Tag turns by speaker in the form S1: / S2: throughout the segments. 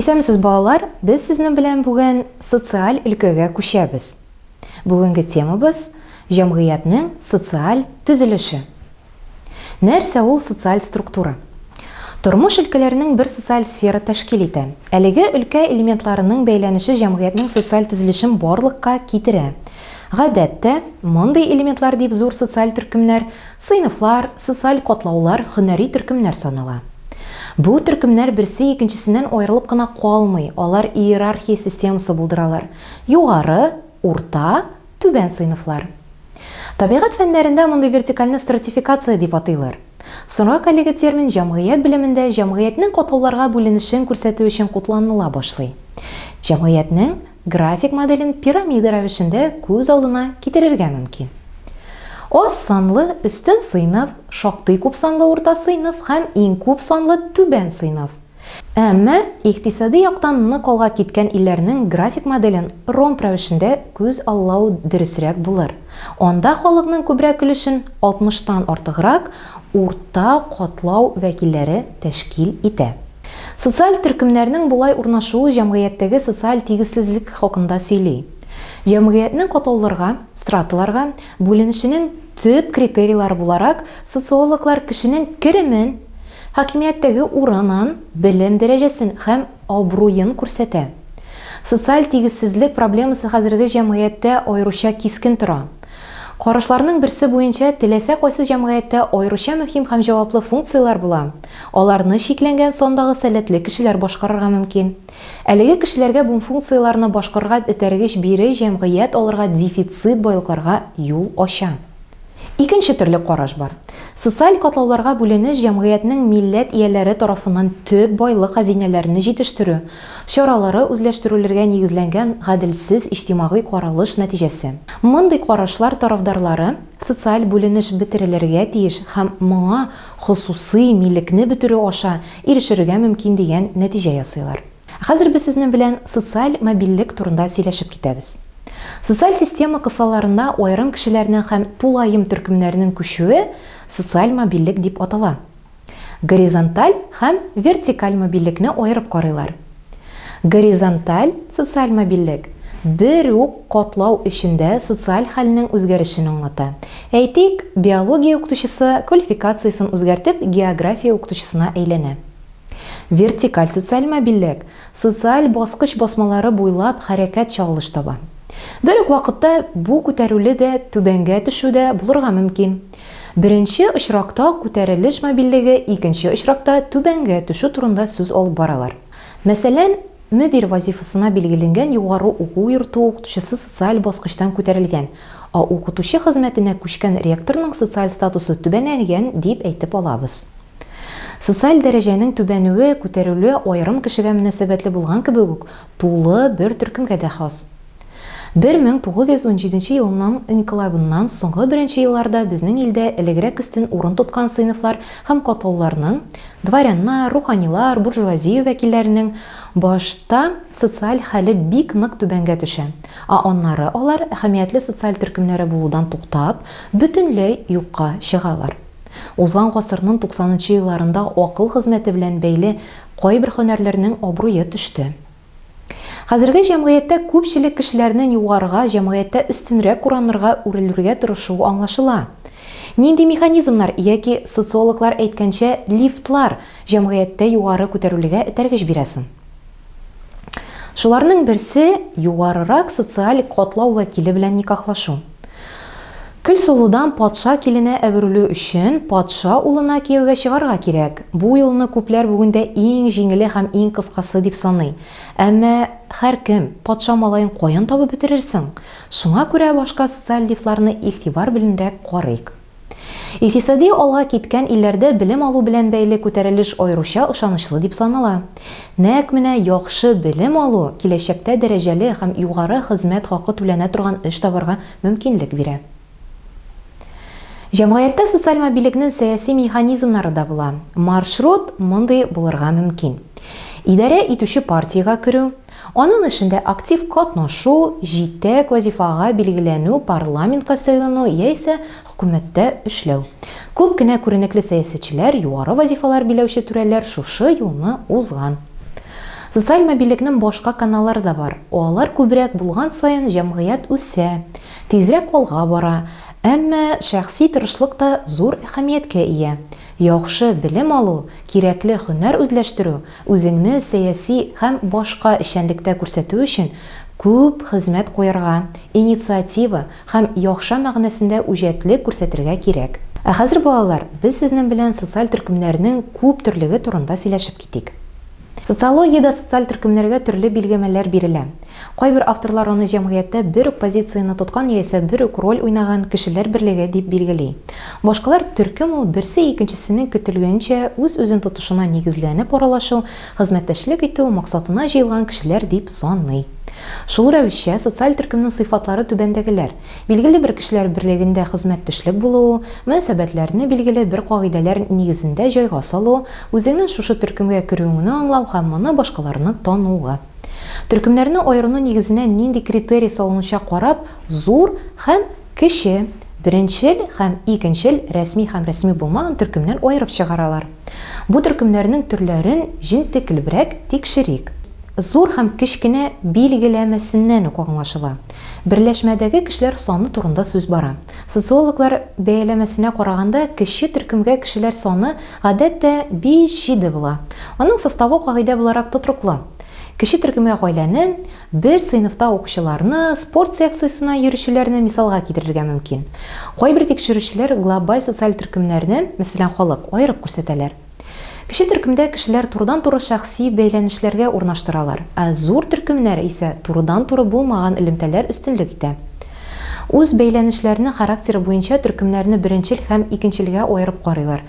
S1: Исәнмесез балалар, без сезнең белән бүген социаль өлкәгә күчәбез. Бүгенге темабыз, җәмгыятьнең социаль төзелеше. Нәрсә ул социаль структура? Тормыш өлкәләренең бер социаль сфера тәшкил итә. Әлеге өлкә элементларының бәйләнеше җәмгыятьнең социаль төзелешен барлыкка китерә. Гадәттә, мондый элементлар дип зур социаль төркемнәр Сыйныфлар, социаль катлаулар, һөнәри төркемнәр санала. Бу төркемнәр берсе икенчесеннән аерылып кына калмый, алар иерархия системасы булдыралар, югары, урта, түбән сыйныфлар. Табигать фәннәрендә мондый вертикальне стратификация дип атыйлар. Соңрак әлеге термин җәмгыять белемендә җәмгыятьнең катлауларга бүленешен күрсәтү өчен кутланыла башлый. Җәмгыятьнең График моделен пирамида рәвешендә күз алдына китерергә мөмкин. Аз санлы, өстен сыйныф, шактый күп санлы урта сыйныф һәм иң күп санлы түбән сыйныф. Әмма икътисади яктан нык алга киткән илләрнең график моделен ромб рәвешендә күз аллау дөресрәк булыр. Анда халыкның күбрәк өлешен, 60 тан артыграк, урта катлау вәкилләре тәшкил итә. Социаль төркемнәрнең болай урнашуы җәмгыятьтәге социаль тигезсезлек хакында сөйли. Җәмгыятьнең катлауларга, страталарга, бүленешенең төп критерийлары буларак социологлар кешенең керемен, хакимияттәге урынын, белем дәрәҗәсен һәм абруен күрсәтә. Социаль тигезсезлек проблемасы хәзерге җәмгыятьтә аеруча кискен тора. Карашларның берсе буенча, теләсә кайсы җәмгыятьтә аеруча мөһим һәм җаваплы функцияләр була, Аларны чикләнгән сандагы сәләтле кешеләр башкарырга мөмкин. Әлеге кешеләргә бум функцияләрне башкарырга этәргеч бире җәмгыять алырга дефицит байлыкларга юл ача. Икенче төрле караш бар. Социаль катлауларга бүленеш җәмгыятьнең милләт ияләре тарафыннан төп байлык хәзинәләрне җитештерү чаралары үзләштерүләргә нигезләнгән гаделсез иҗтимагый каралыш нәтиҗәсе. Мондый карашлар тарафдарлары социаль бүленеш бетерелергә тиеш һәм моңа хосусый милекне бетерү аша ирешергә мөмкин дигән нәтиҗә ясыйлар. Ә хәзер без сезнең белән социаль мобильлек турында сөйләшеп китәбез. Социаль система кысаларына аерым кешеләрнең һәм тулаем төркемнәрнең күчүе социаль мобильлек дип атала. Горизонталь һәм вертикаль мобильлекне аерып карыйлар. Горизонталь социаль мобильлек бер үк катлау эчендә социаль хәлнең үзгәрешен аңлата. Әйтик, биология укытучысы квалификациясен үзгәртеп география укытучысына әйләнә. Вертикаль социаль мобильлек социаль баскыч басмалары буйлап хәрәкәт чагылыш таба. Бер үк вакытта бу күтәрүле дә, түбәнгә төшү дә булырга мөмкин. Беренче очракта күтәрелеш мобильлеге, икенче очракта түбәнгә төшү турында сүз алып баралар. Мәсәлән, мөдир вазифасына билгеленгән югары уку йорты укытучысы социаль баскычтан күтәрелгән, а укытучы хезмәтенә күчкән ректорның социаль статусы түбәнәйгән дип әйтеп алабыз. Социаль дәрәҗәнең түбәнүе, күтәрелүе аерым кешегә мөнәсәбәтле булган кебек үк, Тулы бер төркемгә дә хас. 1917 елның инкыйлабыннан соңгы беренче елларда безнең илдә элегрәк өстен урын тоткан сыйныфлар һәм катлауларның, дворяннар, руханилар, буржуазия вәкилләренең, башта социаль хәле бик нык түбәнгә төшә, ә аннары алар, әһәмиятле социаль төркемнәре булудан туктап, бөтенләй юкка чыгалар. Узган гасырнын туксанынчы елларында акыл хезмәте белән бәйле кайбер хөнәрләрнең абруе төште. Хәзерге җәмгыятьтә күпчелек кешеләрнен югарыга, җәмгыятьтә өстенрәк куранырга үрелүргә тырышуы аңлашыла. Нинди механизмнар, яки, социологлар әйткәнчә, лифтлар җәмгыятьтә югары күтәрүлегә этәргеч бирә сон? Шуларның берсе югарырак социаль катлау вәкиле белән никахлашу. Көлсылудан патша киленә әверелү өчен патша улына кияүгә чыгарга кирәк. Бу юлны күпләр бүгендә иң җиңеле һәм иң кыскасы дип саный. Әмма һәркем, патша малаен каян табып бетерерсең? Шуңа күрә башка социаль лифларны игътибар беләнрәк карыйк. Икътисади алга киткән илләрдә белем алу белән бәйле күтәрелеш аеруча ышанычлы дип санала. Нәкъ менә яхшы белем алу киләчәктә дәрәҗәле һәм югары хезмәт хакы түләнә торган эш табарга мөмкинлек бирә. Җәмгыятьтә социаль мобилекнен сәяси механизмнары да була. Маршрут мондый булырга мөмкин. Идарә итүче партиягә керү, Аның эшендә актив катнашу, җитәк, вазифага билгеләнү, парламентка сайлану яисә хөкүмәттә эшләү. Күп кенә күренекле сәясәтчеләр, югары вазифалар биләүче түрәләр шушы юлны узган. Социаль мобильлекнең башка каналлары да бар. Алар күбрәк булган саен җәмгыять үсә, тизрәк алга бара. Әмма шәхси тырышлык та зур әһәмияткә ия. Яхшы белем алу, кирәкле һөнәр үзләштерү, Үзеңне сәяси һәм башка эшчәнлектә күрсәтү өчен күп хезмәт куярга, инициатива һәм яхша мәгънәсендә үҗәтлек күрсәтергә кирәк. Ә хәзер, балалар, без сезнең белән социаль төркемнәрнең күп төрлеге турында сөйләшеп китик. Социологиядә социаль төркемнәргә төрле билгемәләр бирелә. Кайбер авторлар аны җәмгыятьтә бер үк позицияне тоткан яисә бер үк роль уйнаган кешеләр берлеге дип билгели. Башкалар төркем ул, берсе икенчесенең көтелгәнчә үз-үзен тотышына нигезләнеп аралашу, хезмәттәшлек итү, максатына җыелган кешеләр дип саный. Шул рәвешчә, социаль төркемнең сыйфатлары түбәндәгеләр, билгеле бер кешеләр берлегендә хезмәттөшлек булуы, мөнәсәбәтләрне билгеле бер кагыйдәләр нигезендә җайга салу, үзеңнең шушы төркемгә керүеңне аңлау һәм моны башкаларның тануы. Төркемнәрне аерыну нигезенә нинди критерий салынучак карап, зур һәм кече, беренчел һәм икенчел рәсми һәм рәсми булмаган төркемнәр аерып чыгаралар. Бу төркемнәрнең төрләрен җентеклебрәк тикшерик. Зур һәм кечкенә билгеләмәсеннән үк аңлашыла, берләшмәдәге кешеләр саны турында сүз бара. Социологлар бәяләмәсенә караганда, кече төркемгә кешеләр саны Гадәттә, биш җиде була. Аның составы кагыйдә буларак тотрыклы. Кече төркемгә гаиләне, бер сыйныфта укучыларны, спорт секциясенә йөрүчеләрне мисалга китерергә мөмкин. Кайбер тикшерүчеләр глобаль социаль төркемнәрне, мәсәлән, халык, аерып күрсәтәләр. Кече төркемдә кешеләр турыдан-туры шәхси бәйләнешләргә урнаштыралар, ә зур төркемнәр исә турыдан-туры булмаган элемтәләр өстенлек итә. Үз бәйләнешләрне характеры буенча төркемнәрне беренчел һәм икенчелгә аерып карыйлар.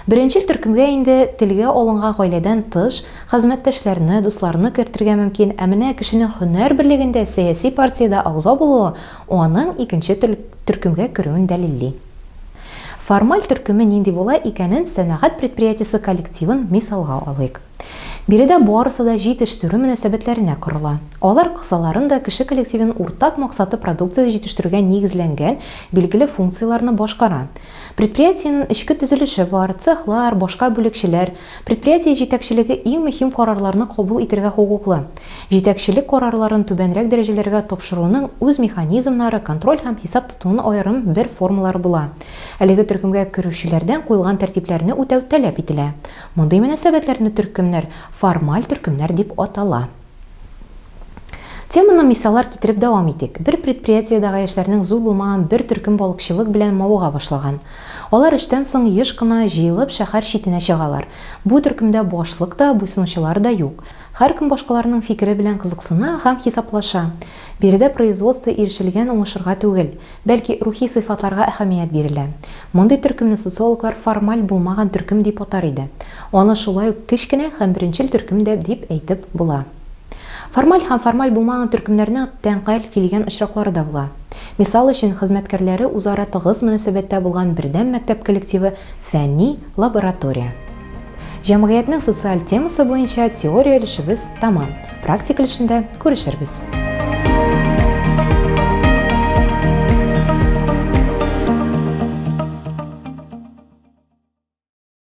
S1: Беренчел төркемгә инде телгә алынган гаиләдән тыш, хезмәттәшләрне, дусларны кертергә мөмкин, ә менә кешенең һөнәр берлегендә, сәяси партиядә агъза булуы аның икенче төркемгә керүен дәлилли. Формаль төркеме нинди була икәнен сәнәгать предприятиесе коллективын мисалга алыйк. Биредә барысы да җи-тештерү мөнәсәбәтләренә корыла. Алар кысаларын да кеше коллективын уртак максаты продукция җитештерүгә нигезләнгән билгеле функцияләрне башкара. Предприятиенен эчке төзелеше бар, цехлар, башка бүлекчәләр. Предприятие җитәкчелеге иң мөһим карарларны кабул итергә хокуклы. Җитәкчелек карарларын түбәнрәк дәрәҗәләргә тапшыруның үз механизмнары, контроль һәм хисап тотуның аерым бер формалары була. Әлеге төркемгә керүчеләрдән куелган тәртипләрне үтәү таләп ителә. Мондый мөнәсәбәтләрне төркемнәр формаль төркемнәр дип атала. Теманы мисаллар китереп дәвам итик. Бер предприятиедагы яшьләрнең зур булмаган бер төркем балыкчылык белән мавыга башлаган. Алар эштән соң еш кына җыелып шәһәр читенә чыгалар. Бу төркемдә башлык та, буйсынучылар да юк. Һәркем башкаларның фикере белән кызыксына һәм хисаплаша. Биредә производство ирешелгән уңышлрга түгел, бәлки рухи сыйфатларга әһәмият бирелә. Мондый төркемне социологлар формаль булмаган төркем дип атар иде. Аны шулай ук кечкенә һәм беренчел төркем дә дип әйтеп була. Формаль һәм формаль булмаган төркемнәрнең тәңкәл килгән очраклары да була. Мисал өчен, хезмәткәрләре үзара тыгыз мөнәсәбәттә булган бердәм мәктәп коллективы фәнни, Лаборатория. Җәмгыятьнең социаль темасы буенча теория өлешебез тәмам, практик өлешендә күрешербез.